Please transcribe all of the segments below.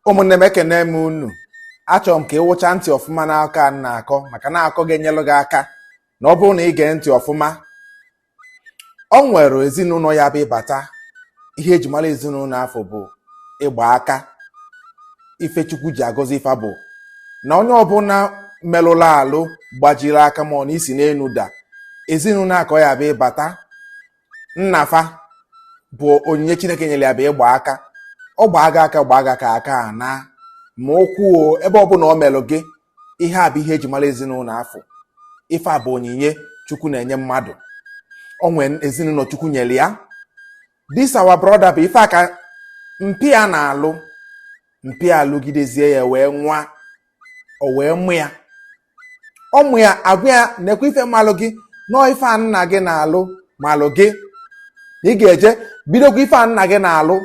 ụmụnne m ekene m unu achọrọ m ka ị wụcha ntị ọfụma n'akọ a na-akọ maka na akọ ga-enyelụ gị aka na ọ bụrụ na ị gee ntị ọfụma o nwere ezinụlọ ị ya-abụ ị bata ihe e ji mara ezinụlọ afụ bụ ịgba aka ife chukwu ji agọzi fa bụ na onye ọbụla merụrụ alụ gbajiri aka ma ọ na i si n'enu daa ezinụlọ a ka ọ ya-abụ ị bata nna fa bụ onyinye chineke nyere ya bụ ịgba aka ọ gbaa gị aka gbaa gị aka aka a naa ma ụkwụ o ebe ọbụla ọ melụ gị ihe a bụ ihe e ji mara ezinụlọ afụ ife a bụ onyinye chukwu na-enye mmadụ o nwere ezinụlọ chukwu nyere ya this our brother bụ ife a ka mpa ya na-alụ mpa ya alụgidezie ya wee nwa o wee mụ ya ọ mụ ya agwa ya nekwa ife malụ gị na ọ ife a nna gị na-alụ malụ gị na ị ga-eje bidokwa ife a nna gị na-alụ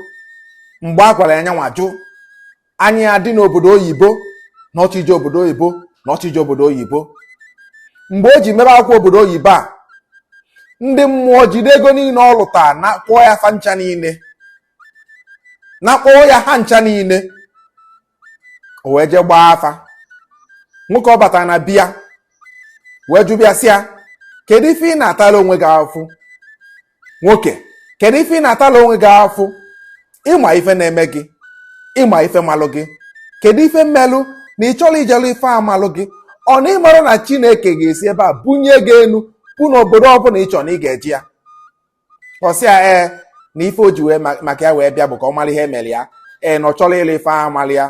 mgbe a gwara ya nya nwa jụ anya ya dị n'obodo oyibo na ọ chọ ije obodo oyibo na ọ chọ ije obodo oyibo mgbe o ji mebe akwụkwọ obodo oyibo a ndị mmụọ jide ego niile ọ lụta nakpọọ ya fa ncha niile nakpọọ ya ha ncha niile o wee jee gbaa afa nwoke ọ batara na be ya wee jụbe ya sị ya kedu ife ị na-atala onwe gị afụfụ nwoke kedu ife ị na-atala onwe gị afụfụ ị ma ife na-eme gị ị ma ife malụ gị kedu ife melụ na ị chọrọ ije lụ ife a malụ gị ọ na ị marọ na chineke ga-esi ebe a bunye gị enu bụ na obodo ọbụla ị chọrọ na ị ga-eje ya ọ sị ya ee na ife o ji wee maka ya wee bịa bụ ka ọ mara ihe e mere ya ee na ọ chọrọ ịlụ ife a mara ya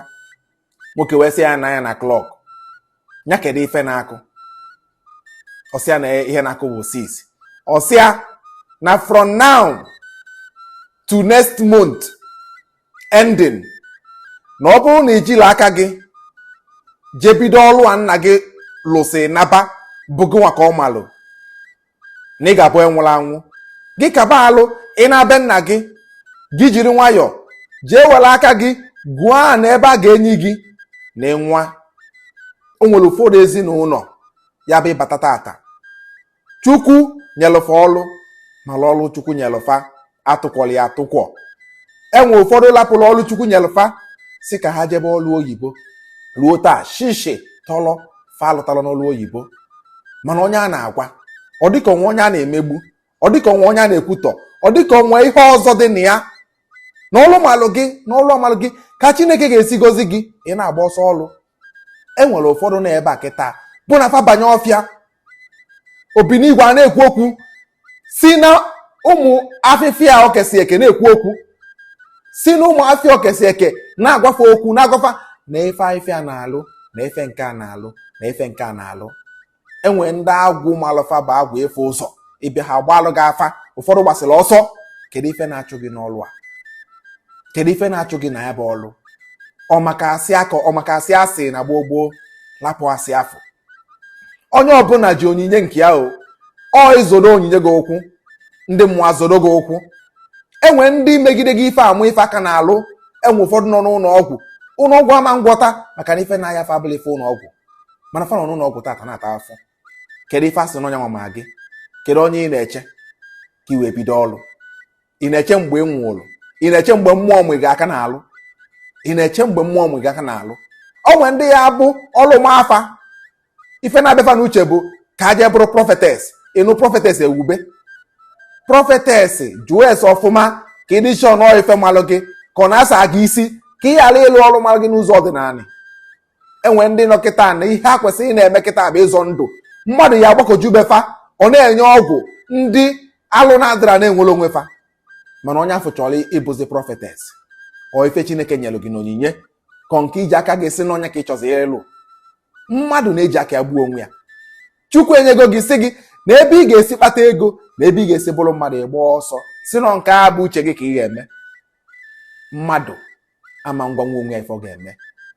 nwoke wee sị ya nee anya na clock nya kedu ife na-akụ ọ sị ya na ihe na-akụ bụ six ọ sị ya na from now to next month ending na ọ bụrụ na i jila aka gị jee bido ọlụ a nna gị lụsị naba bụ gị nwa ka ọ malụ na ị ga-abụ onye nwụrụ anwụ gị kaba alụ ị naa be nna gị gị jiri nwayọọ jee were aka gị gwuo ana ebe a ga-eni gị na ị nwa o nwere ụfọdụ ezinụlọ ị ya-abụ ị bata tata chukwu nyelụ fa ọlụ mana ọlụ chukwu nyelụ fa a tụkwọrọ ya atụkwọ e nwe ụfọdụ lapụrụ ọrụ chukwu nyelụ fa sị ka ha jebe ọrụ oyibo ruo taa shishi tọlọ fa alụtala n'ọrụ oyibo mana onye a na-agwa ọ dịka o nwe onye a na-emegbu ọ dịka o nwe onye a na-ekwutọ ọ dịka o nwe ihe ọzọ dị na ya na ọlụ malụ gị na ọlụ a malụ gị ka chineke ga-esi gozi gị ị na-agba ọsọ ọlụ e nwere ụfọdụ na ebe a kịta bụ na fa banye ọfịa obinigwe a na-ekwu okwu si na ụmụ afịfịa o kesi eke na-ekwu okwu si na ụmụ afịfịa o kesi eke na-agwa fa okwu na-agwa fa na ife afịfịa na-alụ na ife nke a na-alụ na ife nke a na-alụ enwere ndị agwụ malụ fa bụ agwụ ịfụ ụzọ ị bịa ha gbalụ gị afa ụfọdụ gbasịrị ọsọ kedu ife na-achụ gị n'ọlụ a kedu ife na-achụ gị na ya bụ ọlụ ọ maka asị a kọ ọ maka asị a sị na gboo gboo lapụ asị afụ onye ọbụla ji onyinye nke ya o ọ ị zọdo onyinye gị ụkwụ ndị mmụọ azọdo gị ụkwụ enwe ndị megide gị ife amụ ife aka n'alụ enwe ụfọdụ nọ n'ụlọ ọgwụ ụlọ ọgwụ ama ngwọta maka na ife na-aya fa abụrọ ife ụlọ ọgwụ mana fa nọ n'ụlọ ọgwụ tata na-ata afụfụ kedu ife a sị na ọ nya ma gị kedu onye ị na-eche ka i wee bido ọrụ ị na-eche mgbe ị nwụrụ ị na-eche mgbe mmụọ mụ gị aka n'alụ ị na-eche mgbe mmụọ mụ gị aka n'alụ o nwere ndị ya bụ ọrụ ma fa ife na-abịa fa n'uche bụ ka a jee bụrụ prophetess ị nụ prophetess ewube prophetess jụọ ese ọfụma ka ịdị chọọ nọọ ife malụ gị ka ọ na-asa gị isi ka ị ghara ịlụ ọlụ malụ gị n'ụzọ ọdịnala enwe ndị nọ kịta na ihe a kwesịrị ị na-eme kịta bụ ịzọ ndụ mmadụ ya agbakọju be fa ọ na-enye ọgwụ ndị alụ na-adịrọ na-enwere onwe fa mana onye afụ chọrọ ịbụzi prophetess ọ ife chineke nyelụ gị n'onyinye ka ọ nke i ji aka gị sị na ọ nya ka ị chọzi ịlụ mmadụ na-eji aka ya gbuo onwe ya chukwu enyego gị si gị na ebe ị ga-esi kpata ego na ebe ị ga-esi bụrụ mmadụ ị gba ọsọ si na nke a bụ uche gị ka ị ga-eme mmadụ ama ngwanwu onwe ya ife ọ ga-eme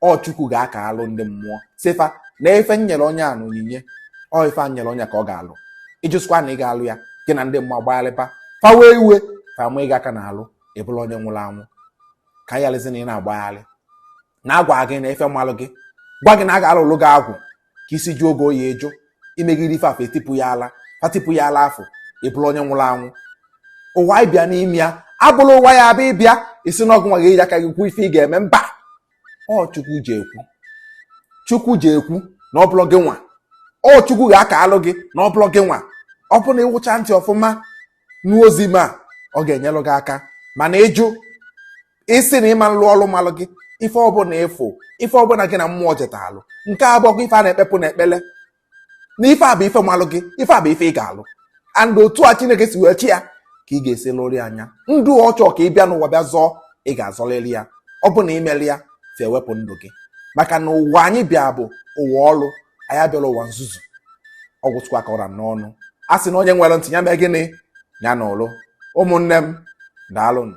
ọ chukwu ga-akalụ ndị mmụọ si fa na ife m nyere onye a n'onyinye ọ ife m nyere onye ka ọ ga-alụ ị jụsịkwa na ị ga-alụ ya gị na ndị mmụọ agbagharịba fa wee iwe fa ama gị aka n'alụ ị bụlụ onye nwụrụ anwụ kalịzi na ị na-agbagharị na-agwa gị na ife malụ gị gwa gị na a ga-alụlụ gị agwụ ka isi jụọ gị oyi ị jụ i megide ife afụ etipụ ya ala fa tipụ ya ala afụ ị bụrụ onye nwụrụ anwụ ụwa ị bịa n'ime ya abụrọ ụwa ị ya-abịa ị bịa ị sị na ọ gị nwa ga-eji aka gị kwuo ife ị ga-eme mba ọ chukwu ji ekwu chukwu ji ekwu na ọ bụrọ gị nwa ọ chukwu ga-akalụ gị na ọ bụrọ gị nwa ọ bụrụ na ị wụcha ntị ọfụma nụ ozi m a ọ ga-enyelụ gị aka mana ị jụ ị sị na ị ma nlụ ọlụ malụ gị ife ọbụla ị fụ ife ọbụla gị na mmụọ jetalụ nke a abụrọkwa ife a na-ekpepụ n'ekpele na ife a bụ ife malụ gị ife a bụ ife ị ga-alụ and otu a chineke si wee chi ya ka ị ga-esi lụrị nya ndụ ọ chọ ka ị bịa n'ụwa bịa zọọ ị ga-azọlịrị ya ọ bụ na i merọ ya fa ewepụ ndụ gị maka na ụwa anyị bịa bụ ụwa ọlụ anyị abịarọ ụwa nzuzu ọ gwụchakwa ka ọ ra n'ọnụ a sị na onye nwere ntị ya mee gịnị ya nụlụ ụmụnne m daalụnụ